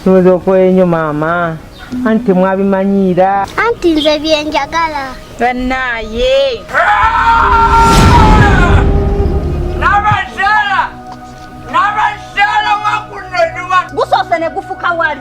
ndowoza okola enyo maama anti temwabimanyiira anti nze byenjagala banaye nabazaala nabazaala wakunonuwa gusoose ne gufuka wali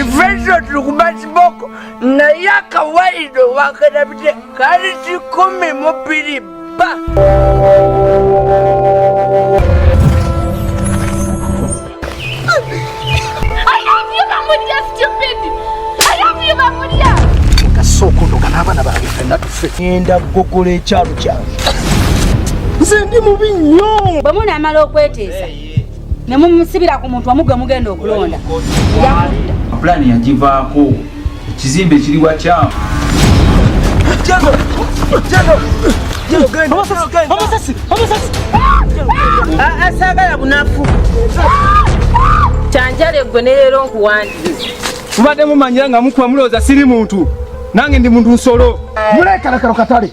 Ifeso tulikuba kiboko naye akawaida wakanabide kali kikumi mubiri ba enda kugogola ekyalo kyange nze ndi mubi nnyo bwe munaamala okweteesa ne mumusibira ku muntu wamu gwe mugenda okulonda pulaani yagivaako ekizimbe kiri wakyamu asaagala bunafu kyanjale gwe ne leero nkuwandiriza mubadde mumanyira nga mukuba mulowooza siri muntu nange ndi muntu nsolo muleekalakalo katale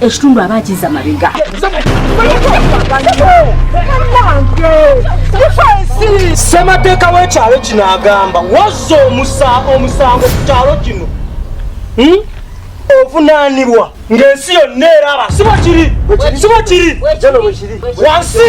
ekitundu aba akiza mabega ssemateeka w'ekyalo kino agamba wazza omusango ku kyalo kino hmm? ovunaanibwa ng'ensi yonna eraba siba kiri siba kiri wansi